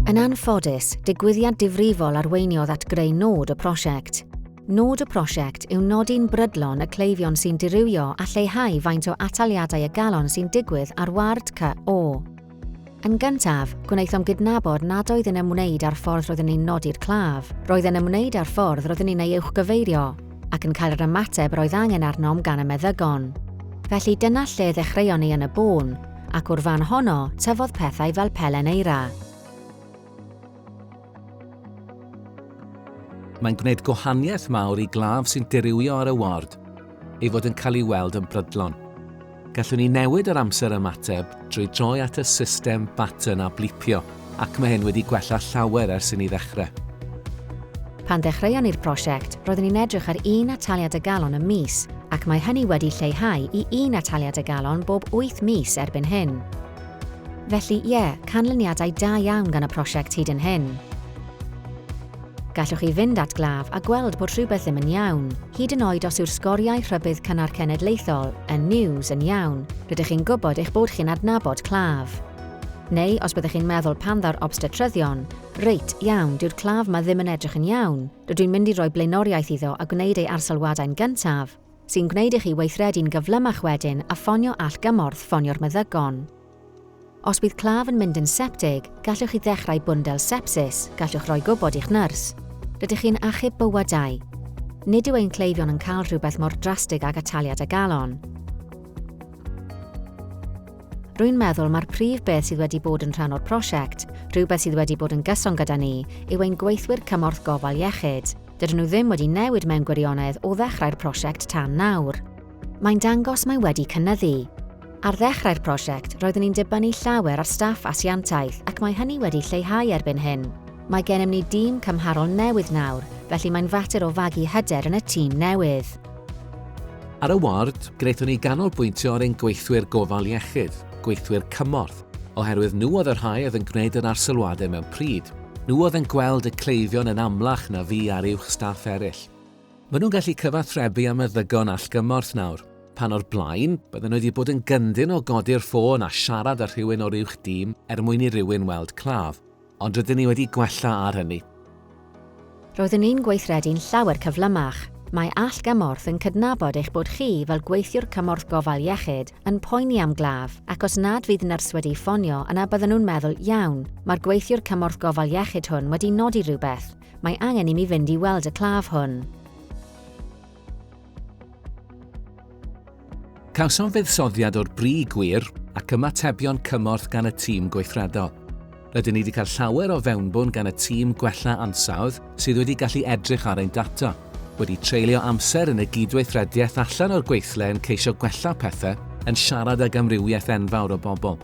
Yn anffodus, digwyddiad difrifol arweiniodd at greu nod y prosiect. Nod y prosiect yw nodi'n brydlon y cleifion sy'n dirywio a lleihau faint o ataliadau y galon sy'n digwydd ar ward CO. Yn gyntaf, gwnaethom gydnabod nad oedd yn ymwneud â'r ffordd roeddwn ni'n nodi'r claf, roedd yn ymwneud â'r ffordd roeddwn ni'n ei uwchgyfeirio. ac yn cael yr ymateb yr oedd angen arnom gan y meddygon. Felly dyna lle ddechreuon ni yn y bôn, ac o'r fan honno tyfodd pethau fel pelen eira. Mae'n gwneud gwahaniaeth mawr i glaf sy'n dirywio ar y ward ei fod yn cael ei weld yn brydlon. Gallwn ni newid yr amser ymateb drwy droi at y system button a blipio, ac mae hyn wedi gwella llawer ers i ni ddechrau. Pan ddechreuon ni'r prosiect, roeddwn ni'n edrych ar un ataliad y galon y mis, ac mae hynny wedi lleihau i un ataliad y galon bob wyth mis erbyn hyn. Felly, ie, canlyniadau da iawn gan y prosiect hyd yn hyn. Gallwch chi fynd at glaf a gweld bod rhywbeth ddim yn iawn, hyd yn oed os yw'r sgoriau rhybudd cynnar cenedlaethol, y news, yn iawn, rydych chi'n gwybod eich bod chi'n adnabod claf. Neu os byddech chi'n meddwl pan ddaw'r obstetryddion, reit, iawn, dyw'r claf 'ma ddim yn edrych yn iawn, rydw i'n mynd i roi blaenoriaeth iddo a gwneud ei arsylwadau'n gyntaf, sy'n gwneud i chi weithredu'n gyflymach wedyn a ffonio allgymorth ffonio'r meddygon. Os bydd claf yn mynd yn septig, gallwch chi ddechrau bwndel sepsis, gallwch roi gwybod i'ch nyrs. Rydych chi'n achub bywydau. Nid yw ein cleifion yn cael rhywbeth mor drastig ag ataliad a galon. Rwy'n meddwl mai'r prif beth sydd wedi bod yn rhan o'r prosiect, rhywbeth sydd wedi bod yn gyson gyda ni, yw ein gweithwyr cymorth gofal iechyd. Dydyn nhw ddim wedi newid mewn gwirionedd o ddechrau'r prosiect tan nawr. Mae'n dangos mae wedi cynyddu. Ar ddechrau'r prosiect, roeddwn ni'n dibynnu llawer ar staff asiantaeth ac mae hynny wedi lleihau erbyn hyn. Mae gennym ni dîm cymharol newydd nawr, felly mae'n fater o fagu hyder yn y tîm newydd. Ar y ward, gwnaethon ni ganolbwyntio ar ein gweithwyr gofal iechyd, gweithwyr cymorth, oherwydd nhw oedd y rhai oedd yn gwneud yr arsylwadau mewn pryd. Nhw oedd yn gweld y cleifion yn amlach na fi a'r uwch staff eraill. Maen nhw'n gallu cyfathrebu â meddygon allgymorth nawr. Pan o'r blaen, bydden nhw wedi bod yn gyndyn o godi'r ffôn a siarad â rhywun o'r uwch dîm er mwyn i rywun weld claf. Ond rydyn ni wedi gwella ar hynny. Roeddwn ni'n gweithredu'n llawer cyflymach. Mae allgymorth yn cydnabod eich bod chi, fel gweithiwr cymorth gofal iechyd, yn poeni am glaf, ac os nad fydd nyrs wedi ffonio yna bydden nhw'n meddwl, 'Iawn, mae'r gweithiwr cymorth gofal iechyd hwn wedi nodi rhywbeth. Mae angen i mi fynd i weld y claf hwn. Cawsom fuddsoddiad o'r bri gwir ac ymatebion cymorth gan y tîm gweithredol. Rydyn ni wedi cael llawer o fewnbwn gan y tîm gwella ansawdd sydd wedi gallu edrych ar ein data. wedi treulio amser yn y gydweithrediaeth allan o'r gweithle yn ceisio gwella pethe, yn siarad ag amrywiaeth enfawr o bobl.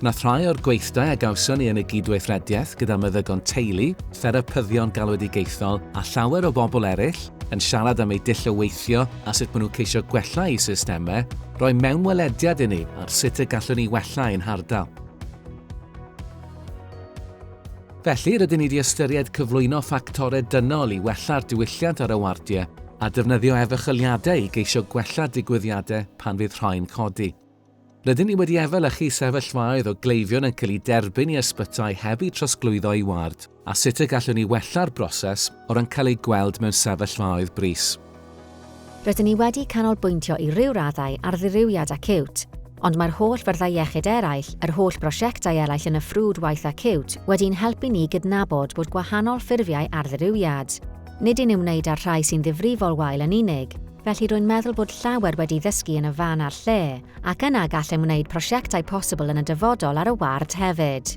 Gwnaeth rhai o'r gweithdai a gawson ni yn y gydweithrediaeth gyda meddygon teulu, therapyddion galwedigaethol a llawer o bobl eraill yn siarad am eu dull o weithio a sut maen nhw'n ceisio gwella eu systemau, roi mewnwelediad i ni ar sut y gallwn ni wella ein hardal. Felly, rydyn ni wedi ystyried cyflwyno ffactorau dynol i wella'r diwylliant ar y wardiau a defnyddio efychyliadau i geisio gwella digwyddiadau pan fydd rhai'n codi. Rydyn ni wedi efelychu sefyllfaoedd o gleifion yn cael eu derbyn i ysbytai heb eu trosglwyddo i ward a sut y gallwn ni wella'r broses o ran cael eu gweld mewn sefyllfaoedd brys. Rydyn ni wedi canolbwyntio i ryw raddau ar ddirywiad acíwt, ond mae'r holl fyrddau iechyd eraill, yr holl brosiectau eraill yn y ffrwd waith acíwt, wedi'n helpu ni gydnabod bod gwahanol ffurfiau ar ddirywiad. Nid yn ymwneud â'r rhai sy'n ddifrifol wael yn unig, felly rwy'n meddwl bod llawer wedi ddysgu yn y fan a'r lle, ac yna gallem wneud prosiectau posibl yn y dyfodol ar y ward hefyd.